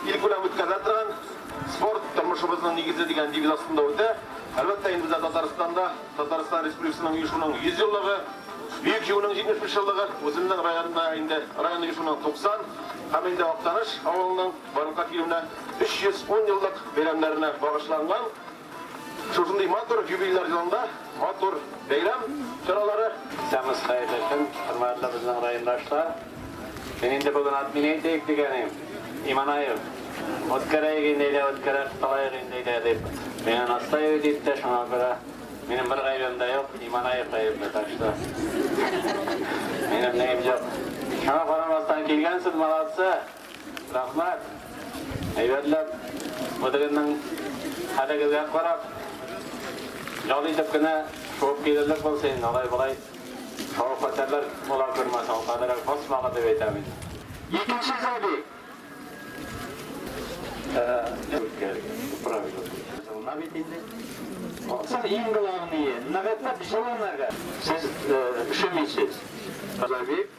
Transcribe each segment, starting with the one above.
Ил күләм үткәрелә торган Спорт, тормышыбызның нигезе дигән девиз астында үтә. Әлбәттә, инде бездә Татарстанда Татарстан Республикасының оешуның 100 еллыгы, Бөек Җиңүнең 75 еллыгы, үземнең районда инде район оешуның 90 һәм инде Актаныш авылының барлыкка килүенә 310 еллык бәйрәмнәренә багышланган Шушындый матур юбилер елында матур бәйрәм чаралары. Исәнмесез, хәерле көн, хөрмәтле безнең райондашлар. Мин инде бүген админ әйтәйек дигәнем, Иманаев, үткәрәйек инде, әйдә үткәрә кылайык инде, әйдә, дип, мине настаивать итте, шуңа күрә минем бер гаебем дә юк, Иманаев гаепле, так что минем нием юк. Шуңа карамастан килгәнсез, молодцы! Рәхмәт! Әйбәтләп, мөдиренең хәлегезгә карап, ял итеп кенә шуып килерлек булса инде, алай-болай хәвеф-хәтәрләр була күрмәс, ул кадәрләп басмагыз дип әйтәм инде. Икенче сәби. Җылына бит инде. Соң иң главные, ныгытып җылынырга. Сез өшемисез. Газабик.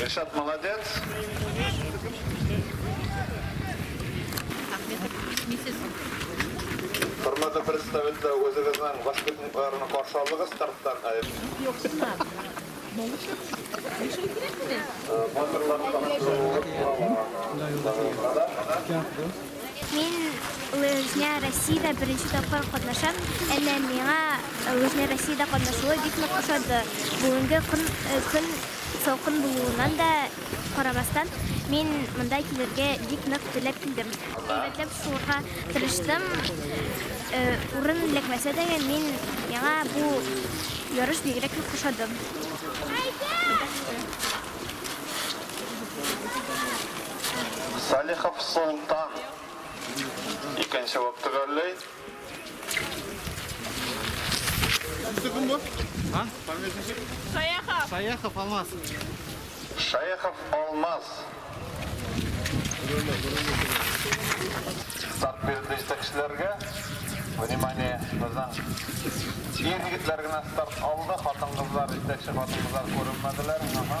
Ришат молодец. Хөрмәтле представитель, үзегезнең воспитанникларны каршы алыгыз старттан. Батырлар Мин лыжня Россиядә беренче тапкыр катнашам. Әнә миңа лыжня Россиядә катнашуы бик нык ошады. Бүгенге көн көн салкын булуыннан да карамастан, мин монда килергә бик нык теләп килдем. Әйбәтләп сугарга тырыштым. Урын эләкмәсә дә, мин миңа бу ярыш бигрәк нык ошады. Салихов Солтан икенче булып төгәлләй. Кем бу? А? Саяхов. Саяхов Алмаз. Шаяхов Алмаз. Старт бирде җитәкчеләргә. Внимание, безнең ир егетләр генә старт алды, хатын-кызлар, җитәкче хатын-кызлар күренмәделәр. Ага.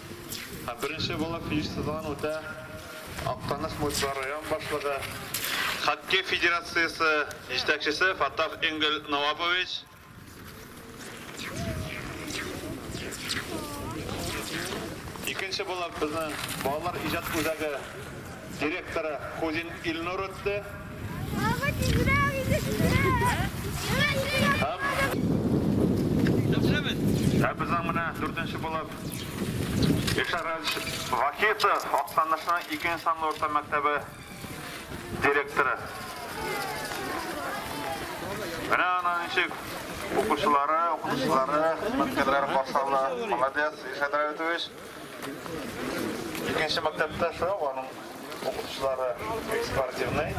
Һәм беренче булып җыештырылган үтә Актаныш муниципаль район башлыгы, хоккей федерациясе җитәкчесе Фаттах Энгель Науапович, икенче булып безнең балалар иҗат үзәге Директоры Кузин Илнур үтте. Баба, тизрәк, иде сезгә! Ә безнең менә дүртенче булып Илшат Радичевич Вахитов, Актанышның икенче санлы урта мәктәбе директоры. Менә аны ничек укучылары, укытучылары, хезмәткәрләре каршы алды. Молодец, Илшат Радитович! Икенче мәктәптә шулай ук аның укытучылары спортивный.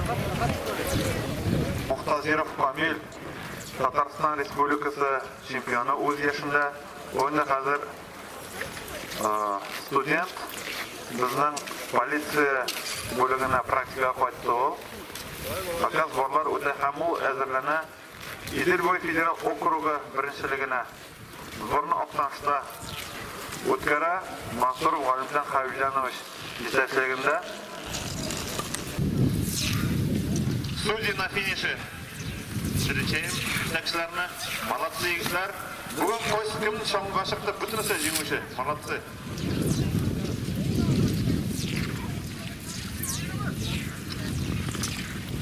Мухтазиров Камил, Татарстан Республикасы чемпионы үз яшендә. Ул инде хәзер студент. Безнең полиция бүлегенә практикага кайтты ул. Факаз барлар үтә һәм ул әзерләнә Идел буе федераль округы беренчелегенә сборны Актанышта үткәрә, Мансуров Галимҗан Хәбибҗанович җитәкчелегендә. Студия на финише. Встречаем җитәкчеләрне. Молодцы, егетләр! Бүген кайсы кем чаңгыга чыкты, бөтенесе җиңүче. Молодцы!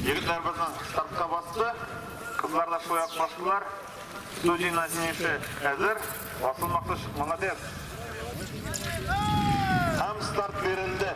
Егетләр безнең стартка басты. Кызлар да шулай ук бастылар. Студийна җиңеше әзер. Асыл Мактыш, молодец. Һәм старт бирелде.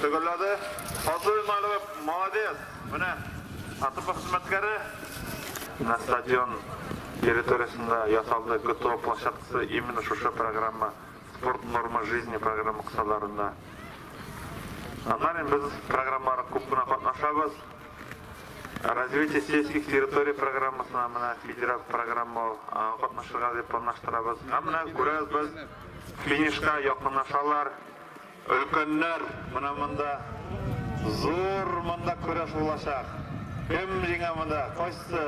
Төгәлләде. Сату Имаилова, молодец! Менә АТП хезмәткәре. Менә стадион территориясендә ясалды ГТО площадкасы именно шушы программа, Спорт нормы жизни програмы кысаларында. Аннары без программаларга күп кенә катнашабыз. Развитие сельских территорий программасына менә федераль программа ул, аңа катнашырга дип планлаштырабыз. Һәм менә күрәбез без, финишка якынлашалар. Өлкәннәр, менә монда зур монда көрәш булачак. Кем җиңә монда? Кайсы?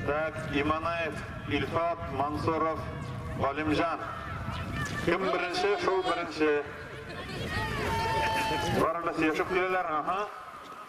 Так, Иманаев, Илфат, Мансуров, Галимҗан. Кем беренче, шул беренче. Барыбыз сөйләшеп киләләр, аһа.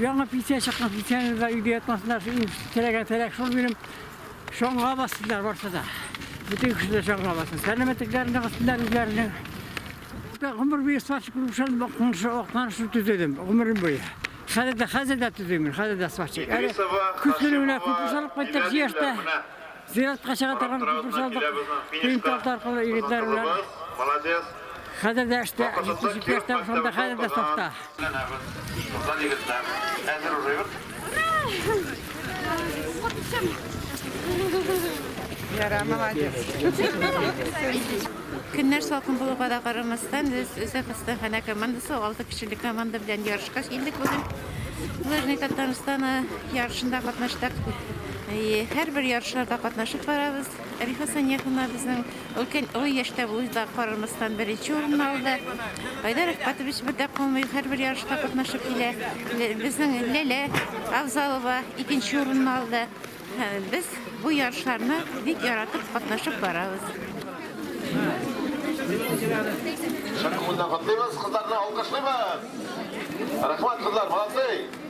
Яңа пенсия чыккан пенсияны да өйдә ятмасыннар, теләгән теләк шул минем шаңга бассыннар барса да. Бөтен кеше дә шаңга бассын. Сәламәтлекләрен ныгытсыннар үзләренең. Гомер буе сварщик булып шул бакыншы оклар шул төзедем. Гомерем буе. Хәзер дә хәзер дә төзим, хәзер дә сварщик. Әле көчле генә күп салып кайттык җияртә. Зиратка чыга торган күпер салдык. Тыйм тарт аркылы егетләр белән. Молодец. Хәзер дә эштә, 77 яшьтә шунда хәзер дә сафта. Ләнәбез. Шунда егетләр. Әзер уже юк. Яра, молодец. Көннәр салкын булуга да карамастан, без Үзәк хастаханә командасы 6 кешелек команда белән ярышка килдек бүген. Лыжный Татарстаны ярышында катнаштык. Әйе, һәрбер ярышларда катнашып барабыз. Рифа Санияховна безнең өлкән олы яшьтә булып да карамастан беренче урынны алды. Айдар Әхпатович бер дә калмый, һәрбер ярышта катнашып килә. Лә- Безнең Ләлә Авзалова икенче урынны алды. Һә, Без бу ярышларны бик яратып катнашып барабыз. Шәп күңелдән котлыйбыз, кызларны алкышлыйбыз. Рәхмәт, кызлар, молодцы!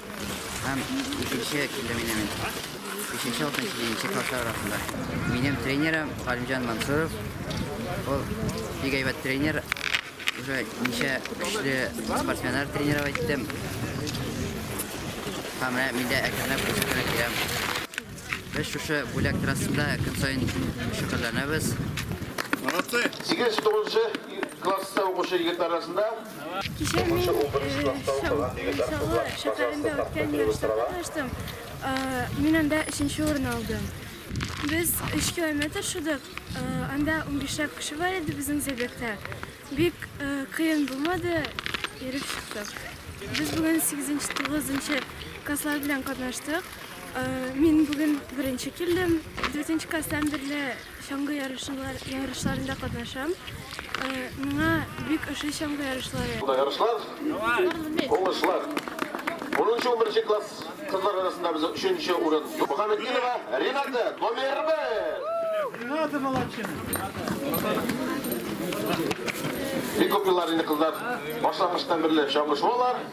Һәм икенче килдем инде мин. Бишенче алтын җиденче класслар арасында. Минем тренерым Галимҗан Мансуров. Ул бик әйбәт тренер. Уже ничә көчле спортсменнар тренировать иттем. Һәм менә мин дә әкренләп үсеп кенә киләм. Без шушы бүләк трассында көн саен шөгыльләнәбез. Молодцы! 8-9 класста укучы егет арасында Кичә мин Чаллы шәһәрендә үткән ярышта катнаштым. Мин анда өченче урын алдым. Без 3 километр шудык. Анда 15ләп кеше бар иде безнең забегта. Бик кыен булмады, йөреп чыктык. Без бүген 8-9 класслар белән катнаштык. Мин бүген беренче килдем. 4 класстан бирле Чаңгы ярышлар, ярышларында катнашам. Э, миңа бик ошый чаңгы ярышлары. Ярышлар, уңышлар. 10-11 класс кызлар арасында без 3 урын. Мухаммеддинова Рената номер 1. Рената молодчина. Бик күп еллар инде кызлар башлангычтан бирле чаңгы шуалар.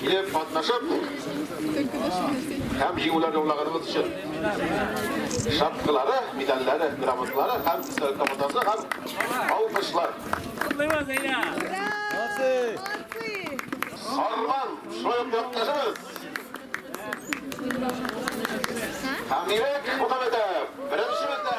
Килеп катнашып һәм җиңүләр яулаганыбыз өчен шапкалары, медальләре, грамоталары һәм истәлек командасы һәм алкышлар. Сарман, шулай ук якташыбыз. Һәм Ирек Мухаметов, беренче бездә.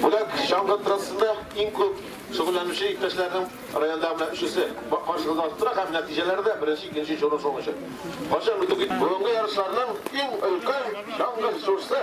Бүләк чаңгы трассында иң күп шөгыльләнүче иптәшләрнең районда менә өчесе. Каршыгызда астыра һәм нәтиҗәләре дә беренче, икенче чоры соңгы чор. Кайчан битү кит. Бүгенге ярышларның иң өлкән чаңгы чорсы